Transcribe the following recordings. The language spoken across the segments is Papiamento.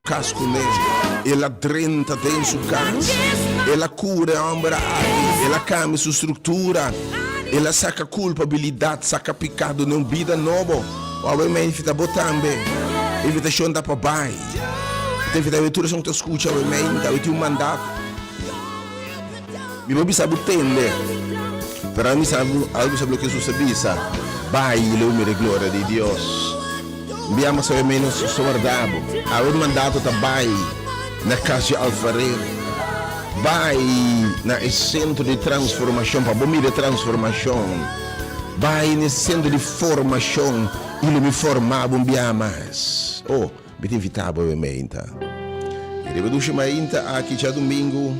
Cas cu ne, el a drenta den su cas, el a cura e homber aki, el a cambia su structura, el a saca culpabilidad, saca picado n'e un bida nobo. Wou e meifita bo tambe. Invitacion ta pa bai. Te invita awe tur esun cu ta scucha awe meinta, awe tin un mandat. Mi no bisa bu tende, pero ami sa bu algu sobre loke Jesus a bisa, Bai y lo mira e gloria di Dios. Mbi a mas menos so warda bo. Awe mandato ta bai na cas di alfarer, bai na e centro di transformacion pa bo mira e transformacion, bai n'e centro di formacion y lo mi forma bo mbi a mas. Oh. Mi ta invitá bo bem'é ainta. I riba dushi mai ainta aki djadumingu,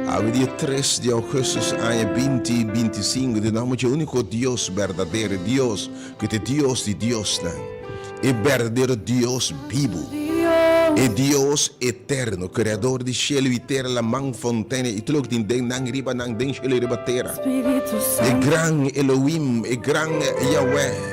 awe dia tres di ougustus aña binti binti sinku, di nòmber dje úniko Dios berdadero, e Dios ku ta e Dios di diosnan, e berdadero Dios bibu, e Dios eterno, kreador di shelu i tera, laman, fontene i tur loke tin den nan, riba nan, den shelu i riba tera, e gran Elohim, e gran Yaweh.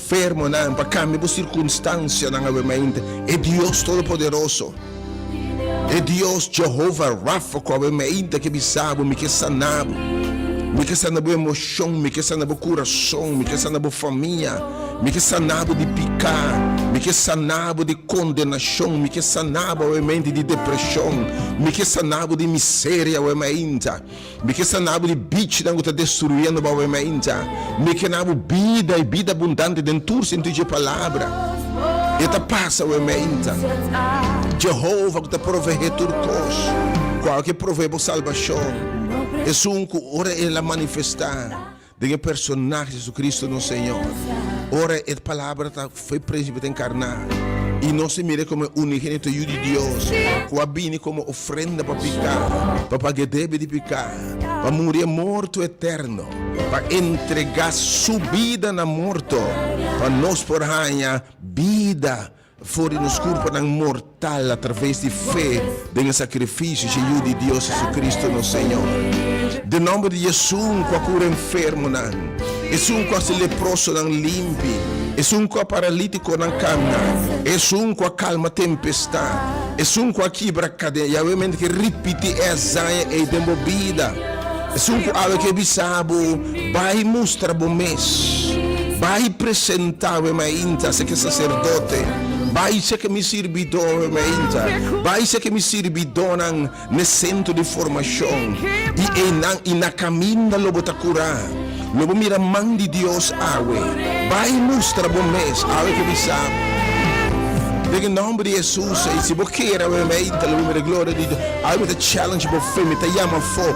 Fermonan pa cambia bo circunstancianan awe mainta e Dios Todopoderoso, e Dios Jehova Rafa cu awe mainta ke bisa bo, Mi ke sana bo, Mi ke sana bo emocion, Mi ke sana bo curason, Mi ke sana bo famia, Mi ke sana bo di pica, Mi ke sana bo di condenacion, Mi ke sana bo awe mainta di depresion, Mi ke sana bo di miseria awe mainta. Mi ke sanabo di bichinan ku ta destruyendo bo awor mainta. Mi ke nabo bida i bida abundante den tur sentido dje palabra. E ta pasa awor mainta. Jehova ku ta proveé tur kos, ku awor ke proveé bo salbashon, esun ku ora el a manifestá. Den e personahe Jesucristo nos Señor, ora e Palabra ta fe principe ta encarna y nos ta mira como e Unigenito Yu di Dios cu a bini como ofrenda pa pica, pa paga e debe di pica, pa muri e morto eterno, pa entrega su bida na morto pa nos por haya bida for di nos kurpanan mortal atraves di fe den e sakrifisio shiu di Dios Jesucristo nos Señor. Den nòmber di Esun ku a kura enfermonan, Esun ku a hasi leprosonan limpi, Esun ku a paralítikonan kanda, Esun ku a kalma tempestat, Esun ku a kibra kaden. Yahweh mente ke ripiti e azaña ei den bo bida. Esun ku awe ke bisa bo. Bai mustra bo mes. Bai presenta wem ainta se ke saserdote. Bai cheke mi sirbidó wem ainta. Bai cheke mi sirbidónan n'e sentro di formashon. I einan i na kaminda lo bo ta kurá. Lo bo mira man di Dios awe. Bai mustra bo mes awe ke mi sa. Den e nòmber di Hesus. I si bo keda wem ainta lo bo mira gloria di Dios. Awe mi ta challenge bo fe. Mi ta yama afó.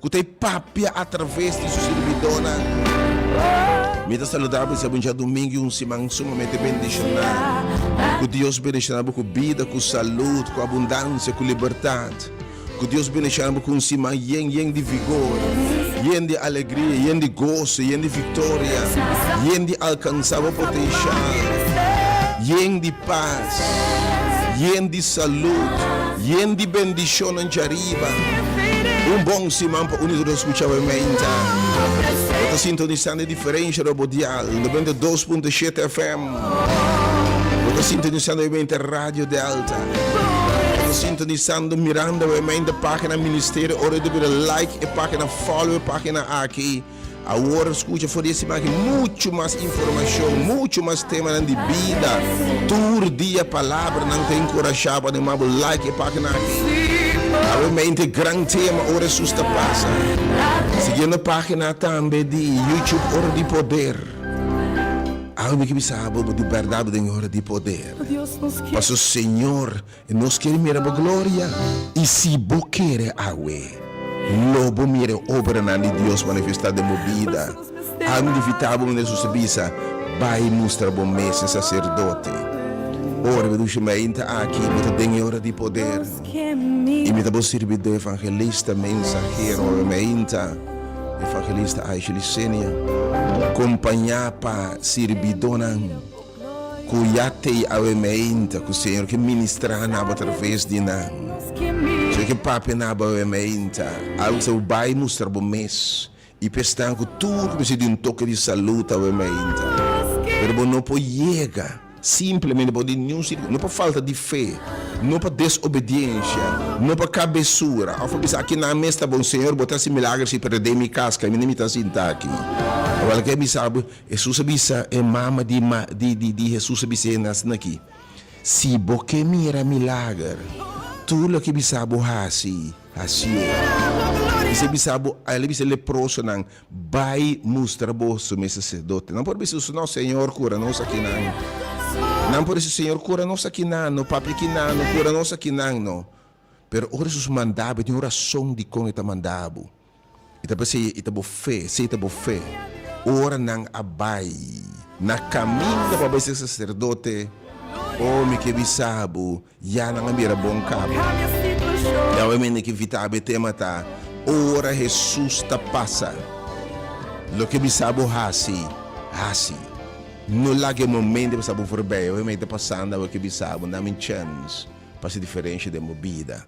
Ku ta e papia atraves di su sirbidónan. Mi ta saludá bo i sèbu dja Dumingu i un siman sumamente bendishoná. Ku Dios bendishoná bo ku bida, ku salud, ku abundansia, ku libertat. Ku Dios bendishoná bo ku un siman yen yen di vigor, yen di alegria, yen di goso, yen di viktoria, yen di alkansá bo potenshial, yen di. Pas, yen di salud, yen di bendishonnan djariba. Un bon siman pa unu di nos scucha bo menta. Bo ta sintonisando e diferensha na bo dial, noventa i dos punto shete FM. Bo ta sintonisando bo menta Radio Delta. Bo ta sintonisando, mirando bo menta pagina Ministerio. Ora di bira like e pagina, follow e pagina aki. Awor skucha for di e simagen muchu mas informashon, muchu mas temanan di bida tur dia. Palabranan ta enkurashá bo. Anima bo like e página aki. Awe mente gran tema ora esun ta pasa. Sigiendo e página tambe di YouTube Ora di Poder. Awe mi ke bisa bo bo di bèrdat bo den e ora di poder. Paso Señor. E nos kere mira bo gloria. I si bo kere awe, lo bo mira e obranan di Dios manifestá den bo bida. Anto di fitá bo manera su Sabisa, bai mustra bo mes e saserdote. Ora bo dici, Mainta aki bo ta den e ora di poder, i mi ta bo sirbidó evangelista, mensahero. Mainta evangelista Aisley Senior, kompañá pa sirbidónan. Ku ya tei awemeinta ku Señor ke ministrá na bo atraves di nan. Señor ke papia na bo awemeinta, algu sa bo bai mustra bo mes, i p'esnan ku tur mester di un toke di salut awemeinta. Pero bo no por yega simplemente pa di niun sirku, no pa falta di fe, no pa desobediensha, no pa kabesura òf pa bisa, Akinan mes ta bon, Señor, bo ta hasi milager si, pero den mi kas kaminda mi ta sinta aki. Awal lo ke a bisa bo. Hesus a bisa e mama di di di Hesus a bis'é na asina aki, Si bo ke mira milager, tur loke bisa bo hasi, hasié. Ese a bisa bo, el a bisa e leprosonan, Bai mustra bo su mes saserdote. Nan por a bisa Hesus, No, Señor, kura nos akinan. Nan por a bisa, Señor, kura nos akinan no, papia kinan no, kura nos akinan no. Pero ora Hesus mandabo, e tin un rason dikon e ta mandabo. I ta p'esei i ta bo fe, sei ta bo fe. Ora nan a bai na kaminda pa bai ser saserdote, oh, mi ke bisa bo, ya nan a bira bon kaba. I awe mi na ke invitá bo e tema ta, Ora Hesus ta pasa, loke bisa bo hasi, hasi. No laga e momen di pasa bo forbei. Awe mi ta pasando, awe ke bisa bo, dami un chèns pa hasi diferensha den bo bida.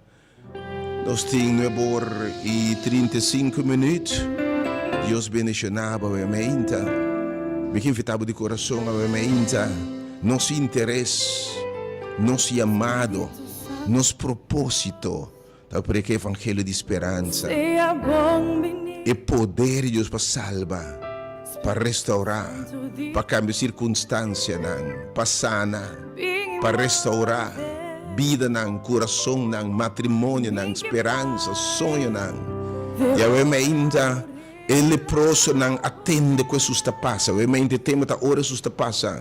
Nos tin nuebe or y trinta y cinco minuut. Dios bendiciona bo awe ameinta. Mi ki invita bo di corazon awe ameinta, nos interes, nos yamado, nos proposito ta preka e evangelio di speransa, e poder di Dios pa salba. pa restaurá, pa kambia sirkunstansianan, pa sana, pa restaurá bidanan, kurasonnan, matrimonionan, speransa, soñonan. Yahweh mainta e leprosonan a tende ku Hesus ta pasa. Yahweh mainta e tempu ta ora Hesus ta pasa.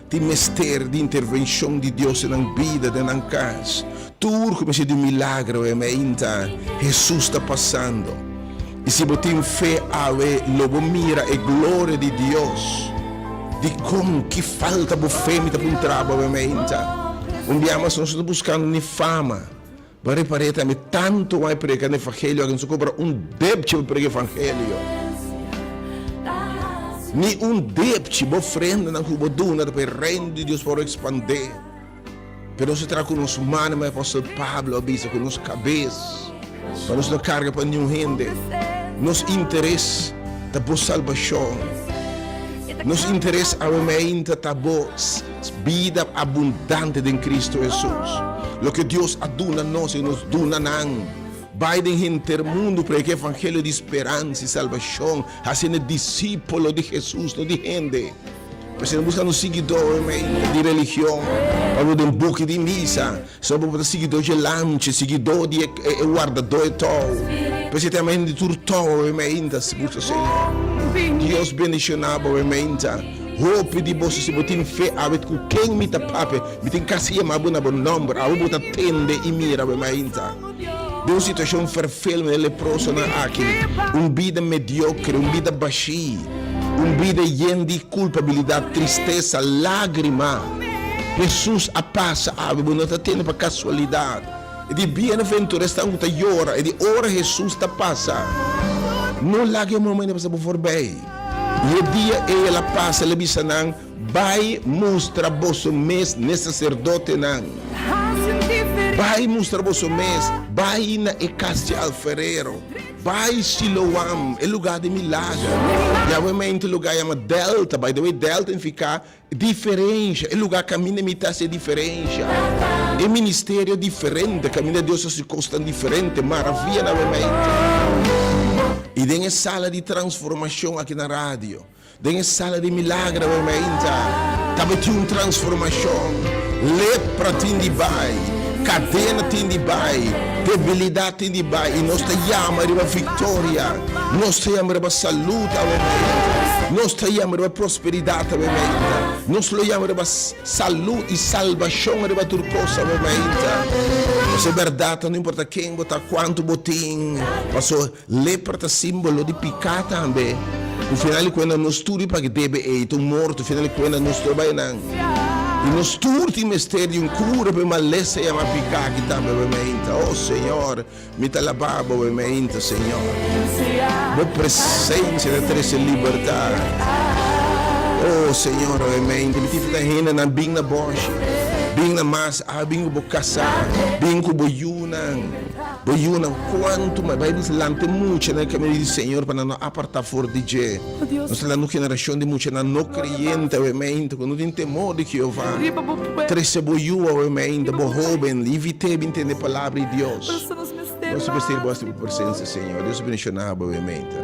Tin mester di intervenshon di Dios den nan bida, den nan kas. Tur ku mester di un milagro e meinta Hesus ta pasando. I si bo tin fe awe, lo bo mira e gloria di Dios. Dikon? Ki falta bo fe mi ta puntrabo awe meinta? Un bia mas nos no ta buskando ni fama. Bo a repar'é tambe, tantu bo a preka na efangelio, algén ta kobra un depchi pa preka efangelio. Ni un depchi, bo ofrendanan ku bo duna ta pa e reino di Dios por ekspandé. Pero nos ta traha ku nos mano, me apòstel Pablo a bisa, ku nos kabes, pa nos no karga pa niun hende. Nos interes ta bo salbashon. Nos interes awe mei ainda ta bo. Bida abundante den Cristo Hesus. Loke Dios a duna nos i nos duna nan. Bai den henter mundu, preka e evangelio di speransa i salbashon, hasiendo disipolo di Hesus, no di hende. Prese no buska no siguidónan di religion, pa lo den buki di misa. So bo ta siguidó dje lanche, siguidó di e wardadó e tou. P'esei tem hende tur tou e meinta, si busa Señor. Dios bendiciona bo e meinta. Hopi di boso si bo tin fe a wit cu ken mi ta pape, mi tin casi yama bo na bo nomber. Awe bo ta tende y mira bo e meinta. den un situashon ferfelende leprosonan aki, un bida mediokre, un bida bashí, un bida yen di kulpabilidat, tristesa, lágrima. Hesus a pasa awe, bo no ta tende pa kasualidat. E di bienaventuresnan ku ta yora, e di ora Hesus ta pasa. No laga e momen dja pasa bo forbei. I e dia ei el a pasa, el a bisa nan, Bai mustra boso mes n'e saserdotenan, bai mustra boso mes, bai na e kas di alfarero, bai Siloam, e lugá di milagro. Yahweh mi a hinta e lugá yama Dèlta, by the way, Dèlta nifiká diferensha, e lugá kaminda mi ta hasi e diferensha, e ministerio diferente, kaminda Dios ta hasi kosnan diferente, maravianan Yahweh mi a hinta. I den e sala di transformashon aki na radio. Den e sala di milagra wei mi a intra, tabatin tin un transformashon. Lepra tin di bai, kadena tin di bai, debilidat tin di bai, i nos ta yama riba viktoria. Nos ta yama riba salut awe mi a intra. Nos ta yama riba prosperidat awe mi a intra. Nos lo yama riba salut i salbashon riba tur kos awe mi a intra. Nos e bèrdat, no importa ken bo ta, kuantu bo tin, pasobra. Lepra ta simbolo di piká tambe, ku final di kuenta nos tur di pake debe ei ta un morto, final di kuenta nos tur a bai enan, i nos tur tin mester di un kura pa e malesa yama piká ki tambe bai mi ainta. O Señor, mi ta labá Bo bai mi ainta, Señor. Bo presensia ta trese libertat. O Señor, bai mi ainta. Mi tin fita hendenan bin na bòshi, bin na mas, a bin ku Bo kasá, bin ku Bo yunan. Bo yunan cuantu mai bai nos lante mucha na e camino di Señor pa nan no aparta for di dje. Nos ta lando generacion di muchanan no creyente awe mente cu no tin temor di Jehová. Trece bo yu awe mente, bo hoben, y vite bin tende Palabra di Dios. Nos mester di bos di bo presencia, Señor. Dios a bendiciona bo awe mente.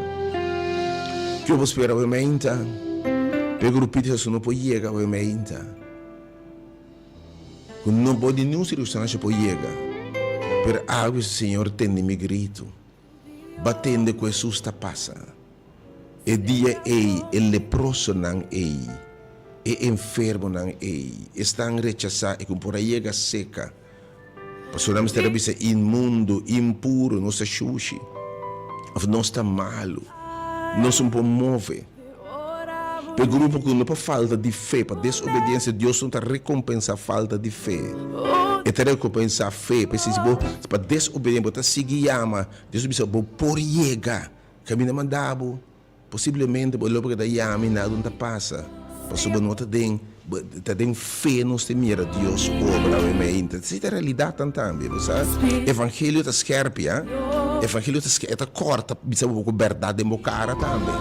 Cu bo spera awe mente pa e grupito esun no por yega awe mente? Cu no por di niun circunstancia por yega, pero awe si Señor tende mi grito, ba tende cu Hesus ta pasa. E dia ey e leprosonan ey, e enfermonan ey, esnan rechasa y cu por a yega ceca, Pasobra nan mester a bisa inmundo, impuro, nos ta shushi, of nos ta malu, nos no por move. Pa e grupo ku no pa falta di fe, pa desobediensia, Dios no ta rekompensá falta di fe, e ta rekompensá fe. P'esei si bo pa desobediente bo ta sigui yama, Dios a bisa, Bo por yega kaminda mandabo. Posiblemente bo lo por keda yami y nada un ta pasa, pasobra no ta den ta den fe nos ta mira Dios obra mei y ta si ta realidad tan tambe bo sa evangelio ta scherpi a evangelio ta scherpi e ta corta bisa bo cu berdad den bo cara tambe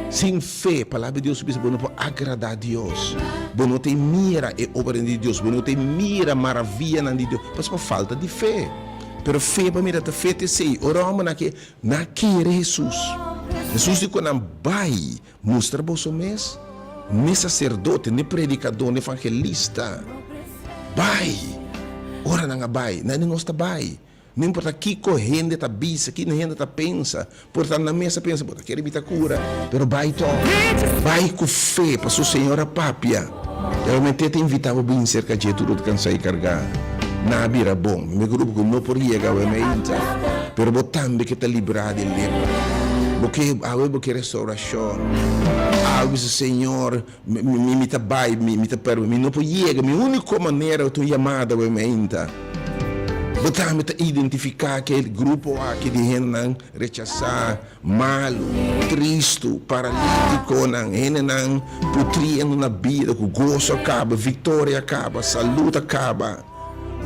sin fe palabra di Dios ta bisa bo no por agrada Dios bo no ta mira e obranan di Dios bo no ta mira e maravianan di Dios pasobra falta di fe pero fe pa mi ta fe ta esey ora hombrenan ke Nan kere Hesus. Hesus di ku nan, Bai, mustra boso mes n'e saserdote, n'e predikadó, n'e evangelista. Bai! Ora nan a bai, nan di nos ta bai. No importa kiko hende ta bisa, kiko hende ta pensa, por ta nan mes a pensa, bo ta kere bita kura, pero bai tò. Bai ku fe, pasobra Señor a papia. Pero mi te ta invita bo bin serka dje tur ot cansa y carga. Na a bira bon. Mi grupo cu no por yega awe na inta, pero bo tambe ke ta libra di lepra. Bo ke awe bo ke restauracion. Awe bisa Señor mi mi ta bay mi ta permi mi no por yega mi unico manera ta un yamada awe na inta. Bo tambe ta identifica ke grupo aki di hendenan. rechasá, malu, tristu, paralítikonan, hendenan putriendo na bida ku goso a kaba, viktoria a kaba, salùt a kaba.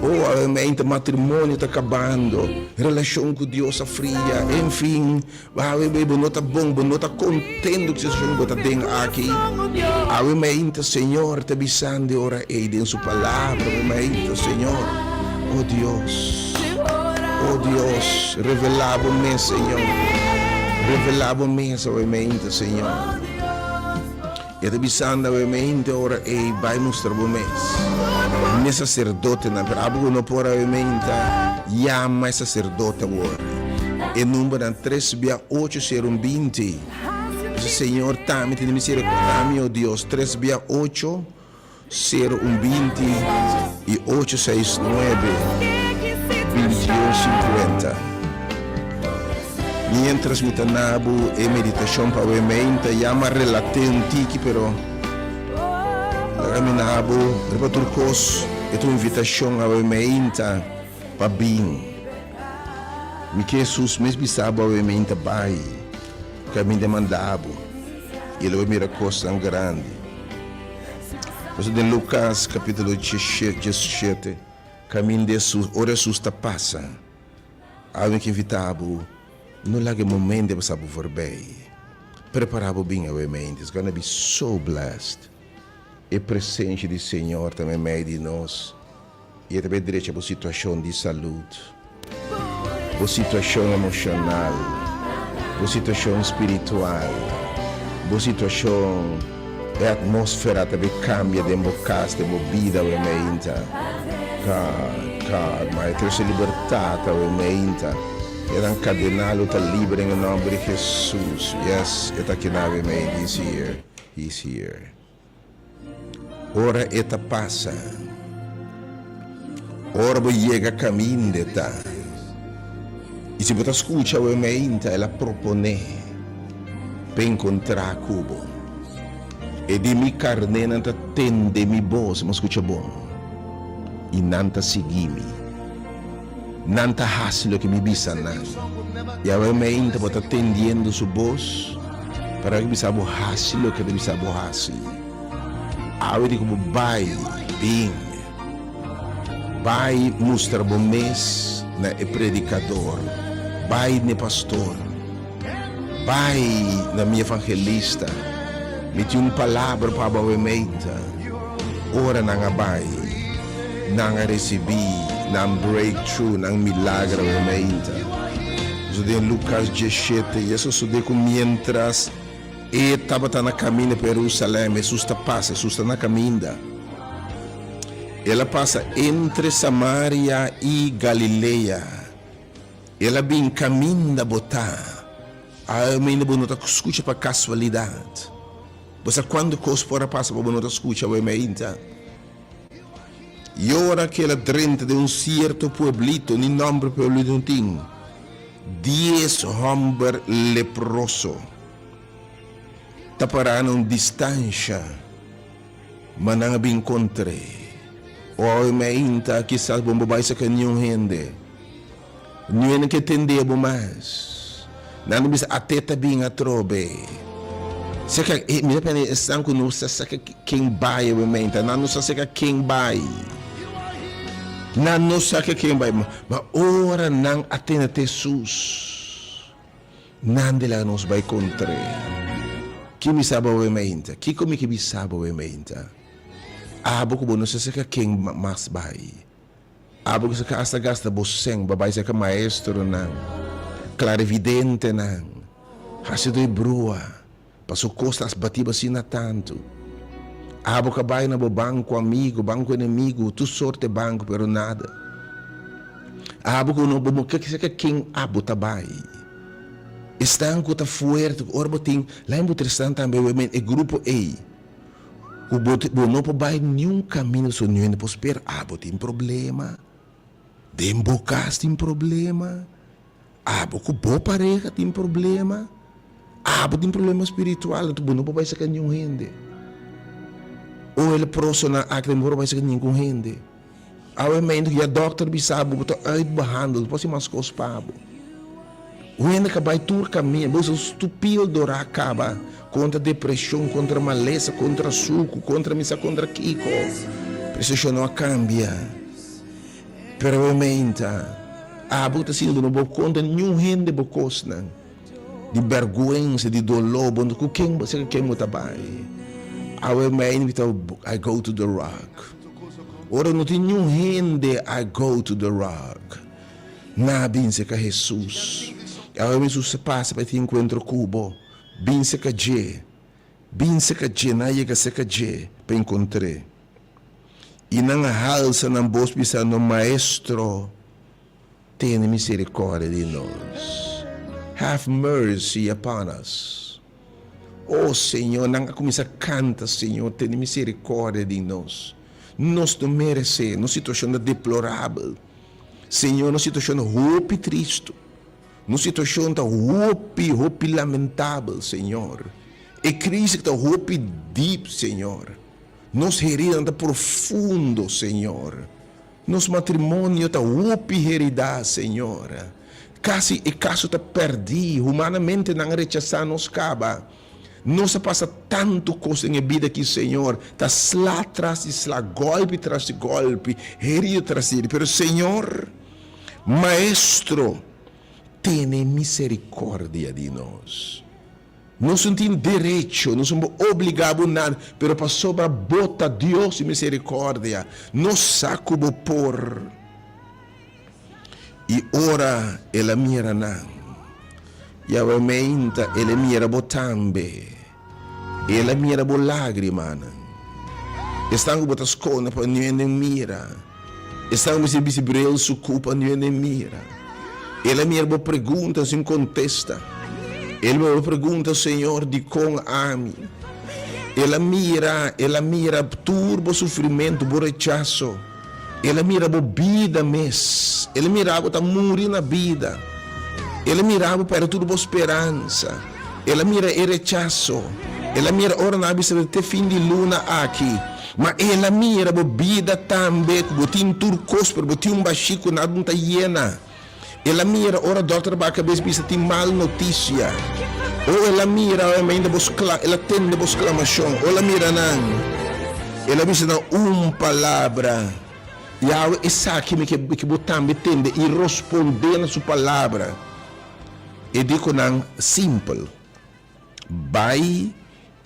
O habermente matrimonio ta kabando, relashon ku Dios a fria, enfin, habermente bo no ta bon, bo no ta kontentu ku e situashon ku bo ta den aki. Habermente Señor ta bisan di ora ei den Su Palabra, habermente Señor, O Dios. Oh Dios, revelá bo mes, Señor. Revelá bo mes awe mi ainta, Señor. E ta bisanda awe mi ainta ora ei, bai mustra bo mes. Mi saserdotenan, pero abo ku no por awe mi ainta, yama e saserdote awor. E numbernan, tres bia ocho sero un binti. Señor, tami tene misericordia di mi, oh Dios, tres bia ocho. Sero un binti y ocho seis nuebe bintiun sinkuenta. Mientras mi ta nabu e meditacion pa awe mei mi ta yama relate un tiki pero laga mi nabu riba tur cos e ta un invitacion awe meinta pa bin mi ke Jesus mes bisabu awe meinta bai caminda mandabu y el lo a mira cosnan grandi Por eso den Lucas capítulo diesisiete, camin di Hesus, ora Hesus ta pasa, algin ki invita bo, no laga e momen di pasa bo forbey. Prepara bo bin awe mente, it's gonna be so blessed. E presencia di Señor ta na medio di nos. I e ta bay drecha bo situashon di salud, bo situashon emoshonal, bo situashon spiritual, bo situashon, e atmosfera ta bay kambia den bo kas, den bo bida awe mi ainta. God, God, ma e trese libertat awe mi ainta. E nan kadena lo ta liber den e nomber di Hesus. Yes, e ta keda awe mi ainta. He's here, He's here. Ora e ta pasa. Ora bo yega kaminde ta. I si bo ta skucha bo e mainta el a proponé pa e nkontrá ku bo. E di mi karnénan ta tende mi bos, bo skucha bon, i nan ta sigui mi. Nan ta hasi loke mi bisa nan. Yahweh mi a inta bo ta tendiendo su bos, pero a bisa bo hasi loke a ta bisa bo hasi. Awe di ku bo bai, bin, bai mustra bo mes na e predikador, bai n'e pastor. Bai na mi evangelista, mi tin un palabra pa bo wementa, ora nan a bai, nan a recibi nan breakthrough, nan milagra wementa. Eso den Lucas diesshete, y eso sude cu mientras e tabata na caminda pa Jerusalem, Jesús ta pasa, Jesús ta na caminda, el a pasa entre Samaria y Galilea. El a bin caminda bo ta. Alma ainda bo no ta scucha pa casualidad bo sa cuanto cos por a pasa pa bo no ta scucha bo me ainda yora que el a drenta den un cierto pueblito ni nomber pueblito no tin dies homber leproso ta para na un distancia. Ma nan a bin kontr'é. Oe me inta, kisas bo no bo bai saka niun hende. Niun hende ke tendé bo mas. Nan lo bisa, Até ta bin atrobe. Saka e mi ta pensa, esnan ku no sa saka ken bai oe me inta. Nan no sa saka ken bai. Nan no saka ken bai. Ma ora nan a tende te Hesus. Nande laga nos bai kontr'é? Ki mi sa boe mainta? Kiko mi ke bisa boe mainta? Abo ku bo no sa seka ken mas bai? Abo ku seka asta gasta bo sèn pa bai seka maestronan, klarividentenan, hasido e brua? Paso cos ta asbatiba asina tanto. Abo ca bay na bo banco amigo, banco enemigo, tur sorte banco pero nada. Abo cu no bo no kier seca ken abo ta bay. Esnan cu ta fuerte cu ora bo tin la en bo tresnan tambe we men e grupo ey cu bo bo no por bay niun camino paso niun hende por spera abo tin problema. Den bo cas tin problema. Abo ku bo pareha tin problema, abo tin problema spiritual, enton bo no por bai serka niun hende. O el a proso na aki den bo no por bai serka ningún hende. Awe meintu ku ya dòkter a bisa bo, bo ta uitbehandeld, bo por hasi mas kos pa bo. Un hende ka bai tur kaminda, bo ta su pildo ra kaba kontra depreshon, kontra malesa, kontra suku, kontra misa kontra kiko. Preseshon no a kambia. Pero bo meinta, abo ta sinti no bo konta niun hende bo kosnan, di bèrgwensa, di doló, bo no ku ken bo seka ken bo ta bai. Awe mei no kita I go to the rock. Ora no tin niun hende I go to the rock, na bin seka Hesus. I awe Hesus ta pasa pa e tin enkuentro ku bo, bin seka dje, bin seka dje, na yega seka dje pa enkontr'é. i nan a halsa nan bos bisando, Maestro, tene miserikòrdia di nos! Have mercy upon us! O Señor, nan a kuminsá kanta, Señor, tene miserikòrdia di nos! Nos no meresé, nos situashon ta deplorabel, Señor, nos situashon ta hopi tristu, nos situashon ta hopi, hopi lamentabel, Señor. E krisi ta hopi dip, Señor. Nos heridanan ta profundo, Señor. Nos matrimonio ta hopi heridá, Señor. Casi e caso ta perdí, humanamente nan a rechasá nos caba. Nos a pasa tanto cos den e bida aqui, Señor. Ta sla tras di sla, golpe tras di golpe, herido tras di herido. Pero, Señor, Maestro, tene misericordia di nos. Nos no tin derecho, nos no por obliga bo nada, pero pasobra bo ta Dios di misericordia, nos sa cu bo por. Y ora el a mira nan, y aumenta el a mira bo tambe, y el a mira bo lagrimanan, esnan cu bo ta scunde pa niu ende mira. Esnan mester bisti brian su cu pa no ene mira. El a mira bo pregunta sin contesta. El mira bo pregunta, Señor, dicon ami? El a mira, el a mira tur bo sufrimento, bo rechaso. El a mira bo bida mes. El a mira bo ta muri na bida. El a mira bo perde tur bo speransa. El a mira e rechaso. El a mira ora nan a bisa te fin di luna aki. Ma el a mira bo bida tambe ku bo tin tur kos, pero bo tin un bashí ku nada no ta yena. El a mira ora dòkter a baha kabes bisa tin mal notisia. O el a mira oe mainda bos kla, el a tende bos klamashon. O el a mira nan, el a bisa nan un palabra, Yawe, esaki mi ke ke bo tambe tende, i rospond'é na su palabra. E di ku nan, Simpel, bai.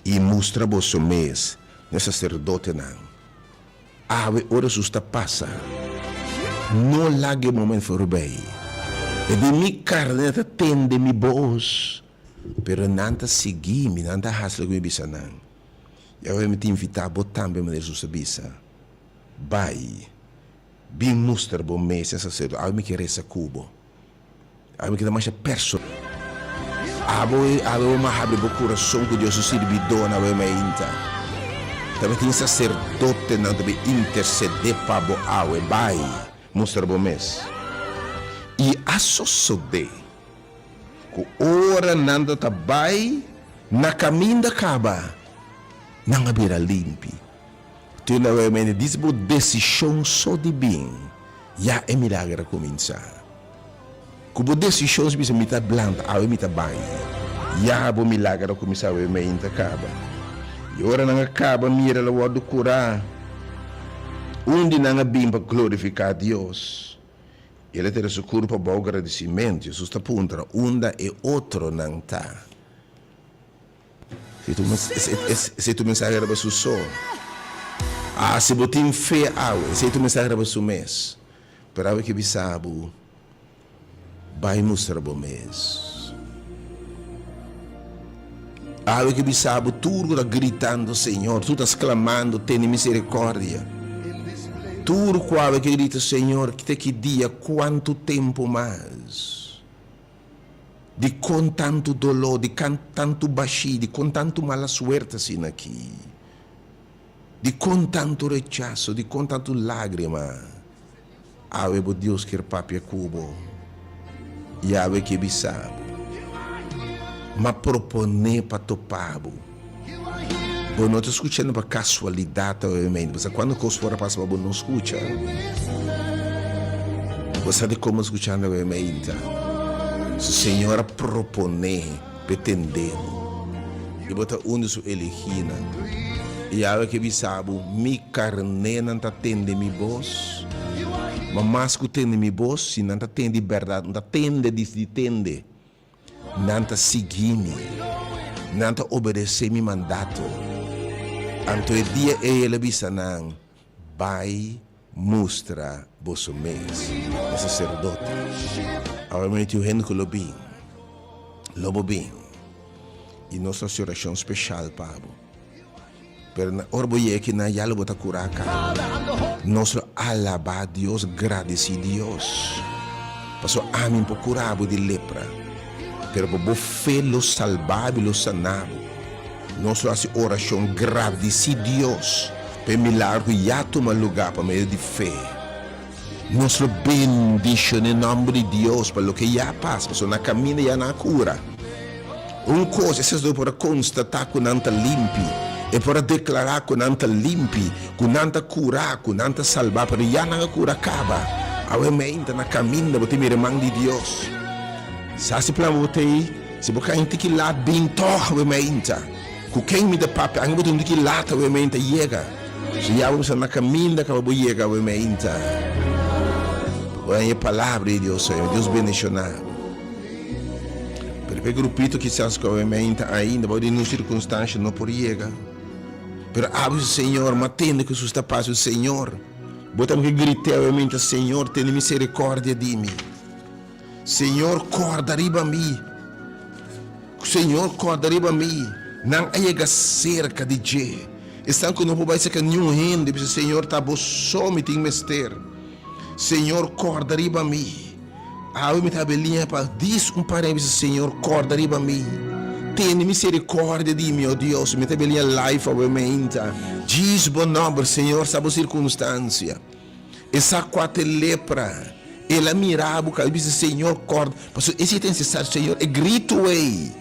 I mustra boso mes n'e saserdotenan, awe ora sus ta pasa, no laga e momen forbey, e den mi carne ta tende mi boz, pero nan ta sigui mi, nan ta haci loke mi bisa nan. I awe mi ta invita bo tambe manera sus ta bisa, bay, bin mustra bo mes n'e sacerdote, awe mi ke resa cu bo. Abo kita masha personal. Abo e awe bo mah habri bo kurason ku Dios su sirbidónan awe mainta. Tabatin e saserdotenan ta bin intersedé pa bo awe. Bai, mustra bo mes. I a sosodé ku ora nan ta ta bai na kaminda kaba, nan a bira limpi. Tin un awor mi bai disi bo desishon so di bin, ya e milager a kuminsá. Ku bo desishon si bisa mi ta blanta, awor mi ta bai, ya bo milager a kuminsá awor mi ainda ta kaba. I ora nan a kaba mira el a wòrdu kurá, un di nan a bin pa glorifiká Dios. El a tira su kur pa bou gradisimentu. Hesus ta puntra, Unda e otronan ta? Esei tu mensahe riba su so. A si bo tin fe awe, esei tu mensahe riba su mes. Pero awe ke bisa bo, Bai mustra bo mes. Awe ke bisa bo, Tur ku ta gritando Señor, tur ta sklamando, tene miserikordia. Tur ku awe ke grita Señor, te ki dia, kuantu tempu mas? di kon tantu doló, di kan tantu bashí, di kon tantu mala suerte asina akí, di kon tantu rechaso, di kon tantu lágrima, awe bo Dios kier papia ku bo i awe ke bisa bo, m'a propone pa topá bo. Bo no ta skuchando pa kasualidat ovemente, paska kuantu kos por a pasa pa bo no skucha, bo sa di komo a skuchando ovemente. Su Señor a proponé pa e tendé bo, i bo ta un di Su elegínan. I Yahwe a ke bisa bo, Mi karnénan ta tende Mi bos, ma mas ku tende Mi bos, si nan ta tende di bèrdat, nan ta tende di tende. Nan ta sigui mi. Nan ta obedesé mi mandato. Anto e dia ei el a bisa nan, Bai mustra boso mes na saserdote. Awe mi tin un hende ku lo bin. Lo bo bin. I nos ta hasi orashon speshal pa bo. Pero na ora bo yega kinan ya lo bo ta kura Carmen. Nos lo alaba Dios, gradisi Dios. Paso ami por kura bo di lepra. Pero pa bo fe lo salba bo y lo sana bo. Nos lo hasi oracion gradisi Dios pa e milagro cu ya tuma lugar pa medio di fe. Nos lo bendiciona e nomber di Dios pa loke ya a pasa, pasobra nan a caminda ya nan a cura. Un cos, eses dos por a constata cu nan ta limpi, e por a declara cu nan ta limpi, cu nan ta cura, cu nan ta salba, pero ya nan a cura caba. Awe mainta nan a caminda, bo ta mira e man di Dios. Sa si plan bo ta bay? Si bo can hinti ki lad, bin toch awe mainta. Ku ken mi ta papia? Ange bo ta sinti ki lata we mei ta yega? So ya bo bisa na kaminda kaba bo yega we meinta. Oja e palabra di Dios ei. Dios bendishona bo. Pero pa e grupito kisas ku we meinta ainda bou di nun sirkunstansha no por yega. Pero abri su Señor, ma tende ku su sta pas su Señor. Bo tambe ke grit'e we meinta, Señor, tene miserikordia di mi. Señor, kòrda riba mi. Señor, kòrda riba mi. Nan a yega serka di dje. Esnan ku no por bai serka niun hende, bisa, Señor, ta bo so mi tin mester. Señor, kòrda riba mi. Awe mi ta habia liña pa dis un pareha, bisa, Señor, kòrda riba mi. Tene miserikòrdia di mi, o Dios. Mi ta habia liña life awe meinta. Djis bo nòmber, Señor, sa bo sirkunstansia. E sa kua ta e lepra, el a mira bo ka, el bisa, Señor, kòrda. Pasobra esei ta necesario, Señor, e gritu ei.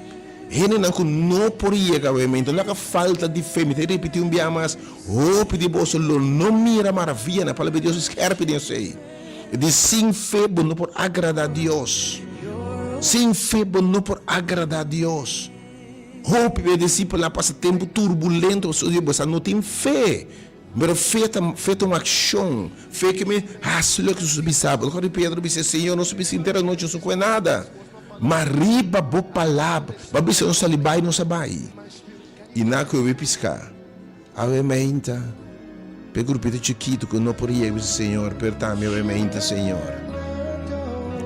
Hendenan ku no por yega awe mi, enton lo a ka falta di fe. Mi ta ripití un bia mas, hopi di boso lo no mira maravia na palabra di Dios skèrpi den esei. I di sin fe bo no por agradá Dios. Sin fe bo no por agradá Dios. Hopi bia disipelnan a pasa tempu turbulento pasobra bo sa no tin fe. Pero fe ta fe ta un akshon. Fe ke mi hasi loke su bi sa. Por kos Pedro bis'é, Señor, nos a bisa inter anochi, nos no kue nada, ma riba bo palab ba bisa nos sali bai, nos a bai. I nan ku e wei piská, awe meinta, p'e grupito chikitu ku no por yega bisa Señor, pero tambe awe meinta, Señor,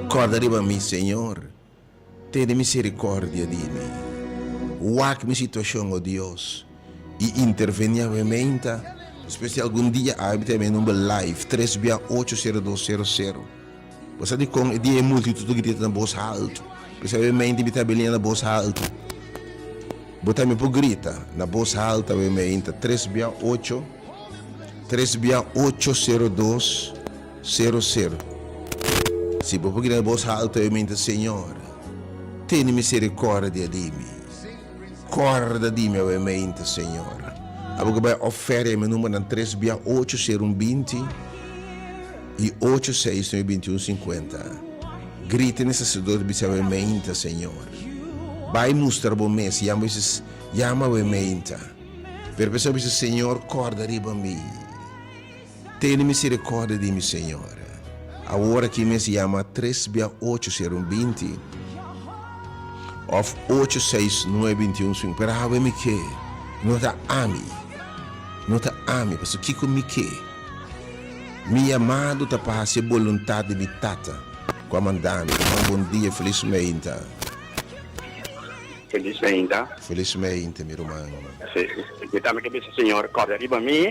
kòrda riba mi, Señor. Tene misericordia di mi. Wak mi situacion, oh Dios, y interveni awe meinta. Despues di algun dia a habita e me number live, tres bia ocho cero dos cero cero. Basa di con e dia e multitud a grita na bos halto, p'esei awe meinta mi ta belia na bos halto. Bo tambe por grita na bos halto awe meinta, tres bia ocho, tres bia ocho cero dos. Sero sero Si bo pugina e bos halto e minta Señor tene misericordia di mi Corda di mi awe minta Señor Abo ke bai ofer e mi numbernan tres bia ocho sero un binti i ocho seis nue binti un sinkuenta Grita ne saserdot bis'e awe minta Señor Bai mustra bo mes yama bis'e yama awe minta Pero p'esei bo bis'e Señor corda riba mi. Tene misericordia di mi, Señor. Awor aki mes yama tres bia ocho ser un binti, of ocho seis nue bintiun swing, pero awe mi ke, no ta ami, no ta ami, pasobra kiko mi ke? Mi yamado ta pa haci e boluntad di mi Tata cu a manda mi. Tuma bon dia, feliz meinta. Feliz meinta. Feliz meinta mi ruman. Si, mi tambe ke bisa, Señor, corda riba mi.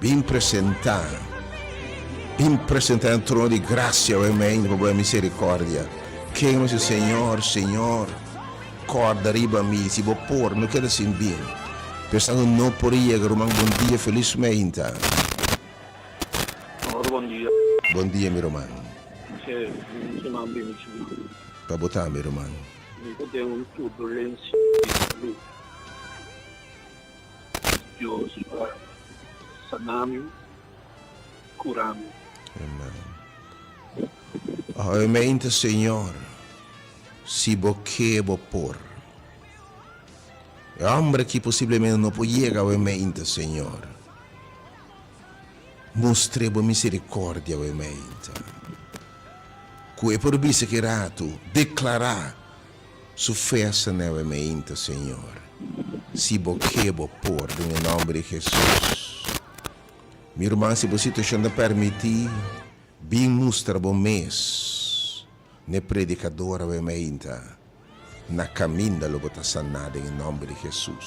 Bin presenta, bin presenta den trono di gracia, oe mei, pa boe misericordia. Ken lo dici, Señor, Señor, corda riba mi, si bo por, no keda sin bin? Pensando no por a yega, ruman, bon dia, feliz meinta. Señor, bon dia. Bon dia, mi ruman. Che, mi no kiman bin mi ciudad. Pa bota mi, ruman. Mi ta den un turbulencia di salud. Dios lo a sana mi, cura mi. Amen. Ohayomente, Señor, si Bo ke, Bo por. E hombre aki posiblemente no por yega ohayomente, Señor. Mustre Bo misericordia ohayomente, cu e por bisa ki ratu, declara. Su fuersa na e wemeinto, Señor. Si bo ke, bo por, den e nomber di Hesus. Mi ruman, si bo situacion ta permiti, bin mustra bo mes na e predicador a wemeinta. Na caminda lo bo ta sana den e nomber di Hesus.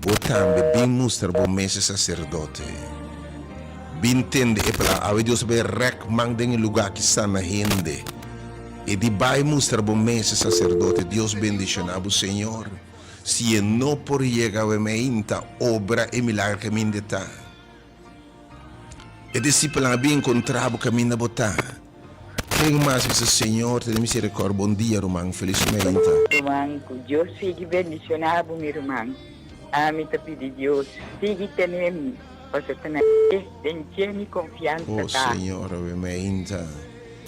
Bo tambe bin mustra bo mes e saserdote. Bin tende e plan. Awe Dios ta bay rek man den e lugar ki sana hende. E di bay mustra bo mes e saserdote. Dios bendiciona bo, Señor. Si e no por yega awe, mi a hinta obra e milagro ke mi hinde ta. E disipelnan a bin kontrá bo kaminda bo ta. Ken mas bisa, Señor, tene miserikòrdia? Bon dia, ruman. Felis mainta. Ruman, ku Dios sigui bendishoná bo, mi ruman. Ami ta pidi Dios, sigui tene mi, paso ta na e den ke mi konfiansa ta. O Señor, oe mainta.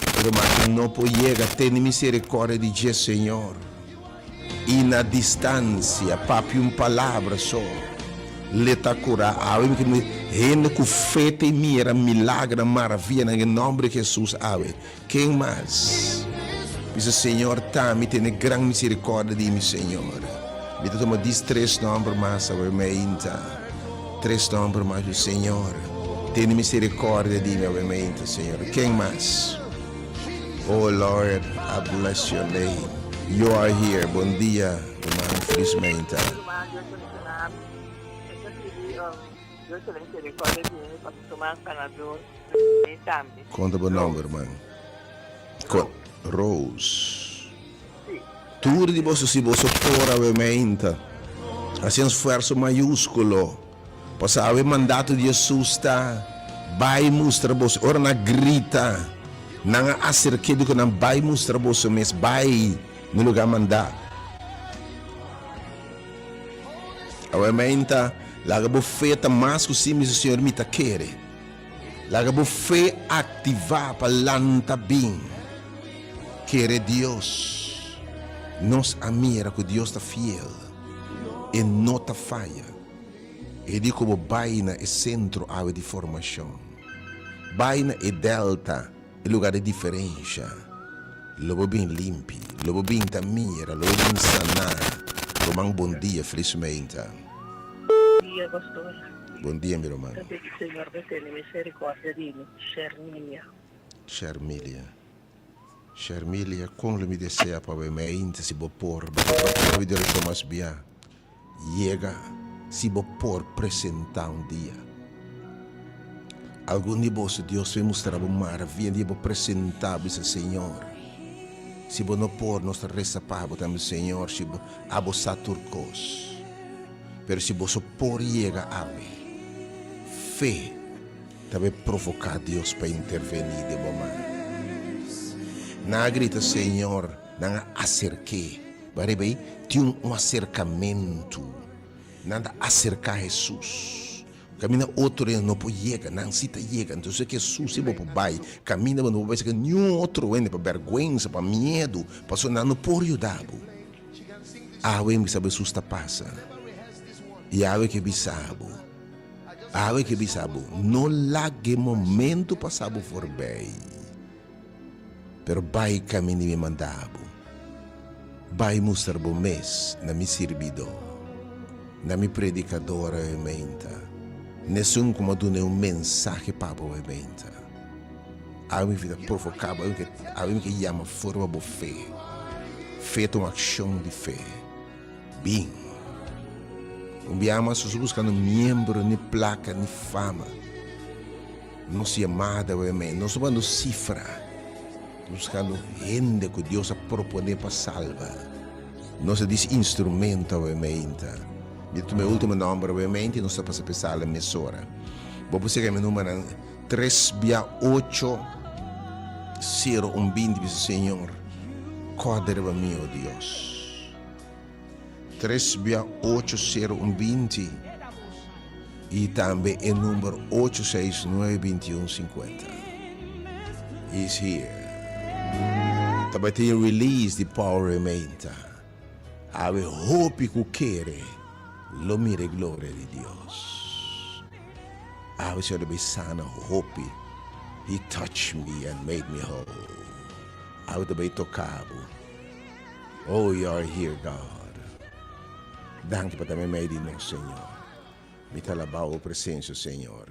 E ruman no por yega tene miserikòrdia di dje, Señor. I na distansia, papia un palabra so, le ta kurá. Awe mi kende hende ku fe ta e mira milagrenan, maravianan, den nòmber di Hesus awe. Ken mas bisa, Señor, ta mi tene gran miserikòrdia di mi, Señor? Mi ta tuma dis tres nòmber mas awe, mainta. Tres nòmber mas, Señor, tene miserikòrdia di mi awe, mainta, Señor. Ken mas? Oh Lord a bless your name you are here bon dia Herman Fris Meinta. Con ta bo nomber herman? Rose tur di boso si boso ora we meinta haci un sfuerso mayusculo. Pasawe e mandato di Jesus ta, Bai mustra boso. Ora nan a grita, nan a hacer ke di ku nan bai mustra boso mes, bai na lugá mandá. Awor mi a hinta, laga bo fe ta mas ku si mismo, Señor, mi ta kere. Laga bo fe aktivá pa lanta bin kere Dios. Nos a mira ku Dios ta fiel, e no ta faya. E di ku bo bai na e sentro awe di formashon, bai na e Delta, e lugá di diferensha, lo bo bin limpi, lo bo bin ta mira, lo bo bin saná. Ruman bon dia, felis meinta. Bon dia pastor. Bon dia mi ruman. Ta pidi señor pa tene misericordia di mi. Shermilia. Shermilia. Shermilia, Con lo mi desea pa bai mei ainda si bo por? Bo ta papia hopi di reto mas bia yega si bo por presenta un dia. Algun di boso Dios lo a mustra bo maravia un dia bo presenta bo esei Señor. Si bo no por nos ta resa pa bo tambe Señor si bo a bo sa tur cos. Pero si boso por yega awe, fe Ta be provoká Dios pa intervení den bo mas. Nan a grita, Señor, nan a aserké. Bariba ei tin un aserkamentu. Nan ta aserká Hesus. Kaminda otro hende no por yega, nan sí ta yega. Anto si Hesus ei bo por bai, kaminda bo. No por bai serka niun otro hende pa bèrgwensa, pa miedu, pasobra nan no por yuda bo. Awe mi bisa Hesus ta pasa i awe ke bisa bo. Awe ke bisa bo, no laga e momento pasa bo forbey, pero bay cami di mi manda bo, bay mustra bo mes na mi sirbidó, na mi predicador awe meinta, nesun cu m'a duna un mensahe pa bo awe meinta. Awe mi fita provoca bo, awe mi ke yama forma bo fe, fe ta un accion di fe. Bin. Un biaha mas su su buskando miembro, ni plaka, ni fama. Nos yamada awe mei no su bando sifra. Nos buskando hende ku Dios a proponé pa salba. Nos a disi instrumento awe mei ta. Mi ta tuma e ultimo nòmber awe mei tin nos ta pasa pa e sala e mesora. Bo por sega mi numbernan tres bia ocho sero un binti bisa Señor, kòrd'e riba mi, o Dios. Tres bia ocho sero un binti i tambe e number ocho seis nueve binti un sinkuenta. He's here. Ta bai tin release di Paul Rementa. Awe hopi ku kere lo mira e gloria di Dios. Awe Señor ta bai sana hopi. He touched me and made me whole. Awe ta bai toka bo. Oh, you are here, God. Danki pa ta me mei di nos, Señor. Mi ta alabao bo presensio, Señor.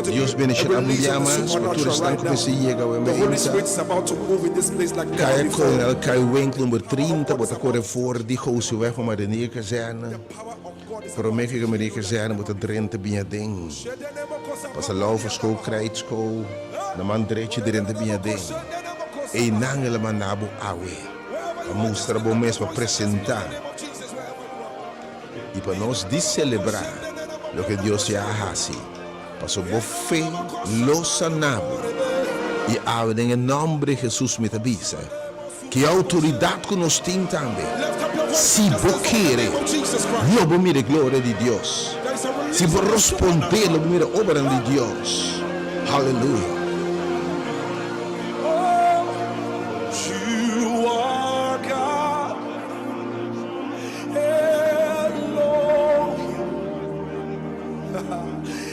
Dios bendiciona bo un dia mas pa tur esnan ku mester yega awe. Mi a invita Kaya Coronel Kaiwink number trinta bo ta kore for di Gousi Weg pa Marinier Kazerne. Prome ke Maria Kazerne bo ta drenta bin aden, pasa Laufus School, Krijt School, na man drechi e drenta bin aden. Einan el a manda bo awe, a mustra bo mes pa presenta i pa nos di selebrá loke Dios ya a hasi, paso bo fe lo sanabo. I awe den e nòmber di Hesus mi ta bisa. Ki outoridat ku nos tin tambe? Si bo kere, lo bo mira e gloria di Dios. Si bo rospondé, lo bo mira e obranan di Dios. Haleluya!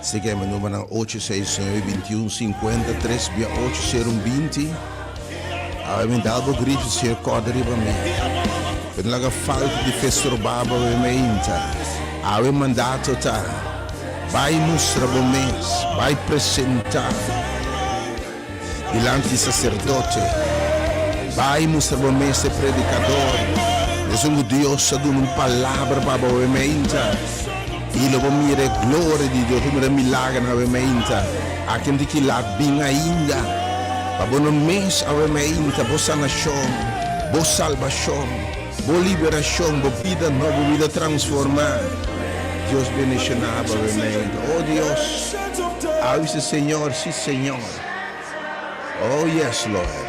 Seken mi numernan ocho seis nueve bintiun sinkuenta tres bia ocho seru un binti awe mi dal bo grito si e kòrda riba mi pa e no laga falta di fe storbá bo awe mi inta awe mandato ta bai mustra bo mes bai presentá. dilanti saserdote, Bai i mustra bo mes e predikador, esun ku Dios a duna un palabra pa bo awe meinta, i lo bo mira e gloria di Dios ku mira milagernan awe meinta. Aki anti ki lat bin ainda, pa bo no mes awe meinta bo sanashon, bo salbashon. Bo liberashon, bo bida nò, bo bida transformá. Dios bendishoná aba realmente. O Dios, awi si Señor, si Señor. O yes Lord.